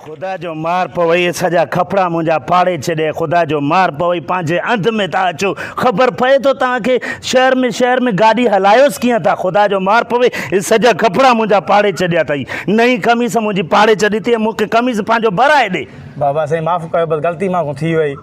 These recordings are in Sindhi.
خدا جو مار پوي سجا کپڙا منجا پاڙي چڏي خدا جو مار پوي پانجي انڌ ۾ تا اچو خبر پئي تو تان کي شهر ۾ شهر ۾ گاڏي هلايوس ڪيئن تا خدا جو مار پوي اي سجا کپڙا منجا پاڙي چڏيا تئي نئين قميص منجي پاڙي چڏي تي مونکي قميص پانجو برائي ڏي بابا سائين معاف ڪيو بس غلطي مانکون ٿي وئي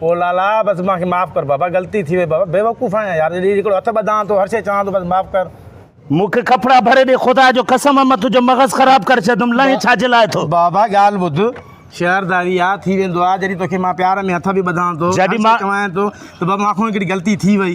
او لالا بس مانکي معاف ڪر بابا غلطي ٿي وئي بابا بيوقوف آهيان يار اڄ هڪڙو هٿ ٻڌان ٿو هر شئي چوان ٿو بس معاف ڪر. مونکي ڪپڙا ڀري ڏي خدا جو قسم آ مان تنهنجو مغز خراب ڪري ڇڏندم لئين ڇا جي لاء ٿو. بابا ڳالهه ٻڌ شهر داري آ ٿي ويندو آ جڏهن توکي مان پيار ۾ هٿ به ٻڌان ٿو هر شئي چوان ٿو ته بابا مانکون هڪڙي غلطي ٿي وئي.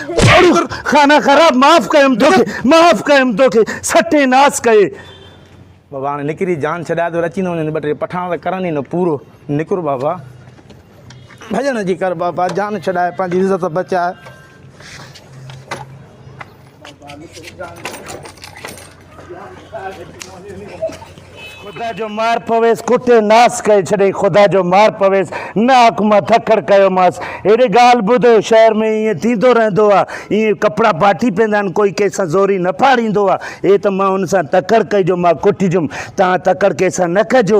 ابڙو خانه خراب معاف ڪيم توکي معاف ڪيم توکي سٽي ناس ڪئي. بابا هاڻي نڪري جان ڇڏاء ته اچي نه وڃن ٻه ٽي پٺاڻ ته ڪرن ئي نه پورو نڪر بابا ڀڄڻ جي ڪر بابا جان ڇڏاء پنهنجي عزت بچاء. خدا جو مار پويس ڪٽي ناس ڪئي ڇڏي خدا جو مار پويس نه حاڪما ٿڪڙ ڪيو ماس اهڙي ڳالهه ٻڌ شهر ۾ ائين ٿيندو رهندو آ ائين ڪپڙا پاٽي پيندا آهن ڪوئي ڪنهن سان زوري نه ڦاڙيندو آ اي ته مان ان سان تڪڙ ڪئي جو مان ڪٽجم توهان تڪڙ ڪنهن سان نه ڪجو